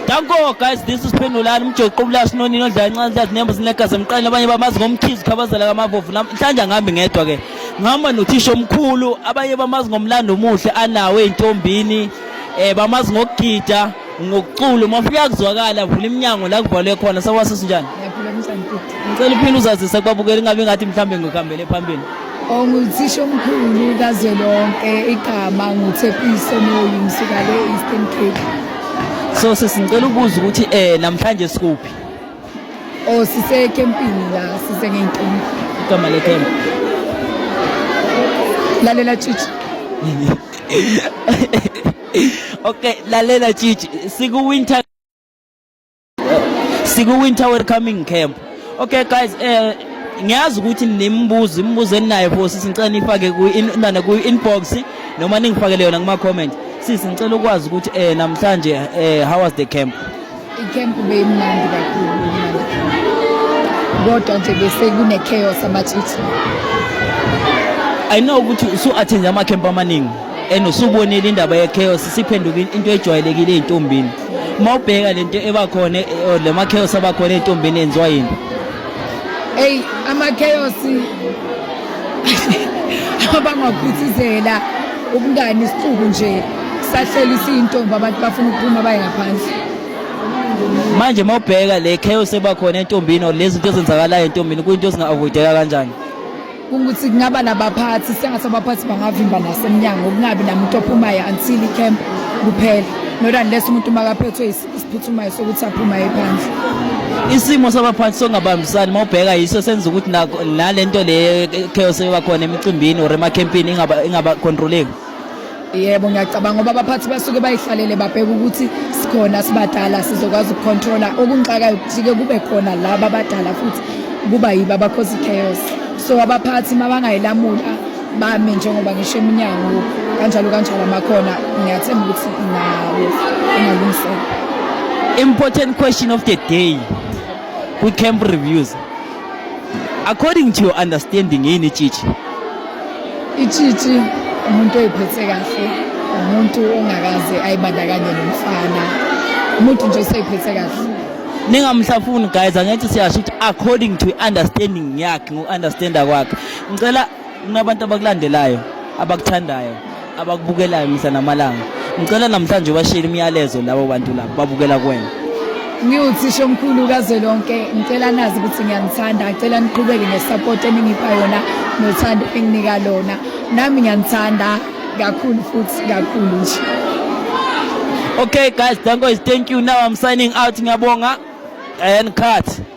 Danko guys this is Phendulani umjoqo ubulashi nonini odlala incane that nembo zinegazi emqaleni abanye bamazi ngomkhizi khabazela kamavovu namhlanje angihambi ngedwa ke ngihamba nothisha omkhulu abanye bamazi ngomlando omuhle anawo ey'ntombini um bamazi ngokugida ngokucula uma ufika kuzwakala vula iminyango la kuvalwe khona sakwase sinjani ngicela uphinde uzazise kubabukeli ingabe ngathi mhlawumbe ngikuhambele phambili Onguthishomkhulu kazwelonke igama nguThepiso Moyi ngisuka le Eastern Cape. So sesicela ukubuza ukuthi eh namhlanje sikuphi? Oh sise campini la sise ngenkini. Igama le camp. Lalela chichi. Okay lalela chichi siku winter siku winter welcoming camp okay guys eh ngiyazi ukuthi nimbuzo imibuzo eninayo for sisi ngicela nifake ku inana ku inbox noma ningifakele yona kuma comment sisi ngicela ukwazi ukuthi eh namhlanje eh how was the camp i camp beyimnandi kakhulu kodwa nje bese kune chaos amathithi i know ukuthi usu attend ama camp amaningi and usubonile indaba ye chaos siphenduka into ejwayelekile ezintombini uma ubheka le nto eba khona eh, oh, le makheyosi aba khona ey'ntombini enziwa yini eyi amakheyosi abangakhuthizela ubungani isixuku nje sahlela isiyintombi abantu bafuna ukuphuma baye ngaphandle manje uma ubheka le chaos ebakhona entombini or lezi zinto ezenzakalayo entombini kuyinto ezinga-avoideka kanjani ukuthi kungaba nabaphathi sengathi abaphathi bangavimba nasemnyango kungabi namuntu ophumayo until icamp kuphela not unless umuntu makaphethwe isiphuthumayo sokuthi aphumayo phandle isimo sabaphathi songabambisani mawubheka yiso senza ukuthi nalento le chaos ebakhona emicimbini or emakhempini ingaba ingaba controleki yebo ngiyacabanga ngoba abaphathi basuke bayihlalele babheke ukuthi sikhona sibadala sizokwazi ukucontrola okunxakayo kujike kube khona laba abadala futhi kuba yibo abakhoza i-chaos so abaphathi uma bangayilamula bami njengoba ngisho eminyango kanjalo kanjalo amakhona ngiyathemba ukuthi nawo ingalungiseka important question of the day kwi-camp reviews according to your understanding yini tshitshi itshitshi umuntu oyiphethe kahle umuntu ongakaze ayibandakanye nomfana umuntu nje oseyiphethe kahle ningamhlafuni guys angithi siyasho ukuthi according to understanding yakhe ngoku-understanda kwakhe ngicela kunabantu abakulandelayo abakuthandayo abakubukelayo mihla namalanga ngicela namhlanje ubashile imiyalezo labo bantu labo babukela kwena ngiwuthisha omkhulu kazwelonke ngicela nazi ukuthi ngiyanithanda ngicela niqhubeke ngesupport eningipha yona nothando enginika lona nami ngiyanithanda kakhulu futhi kakhulu nje okay guys danko is thank you now i'm signing out ngiyabonga and cut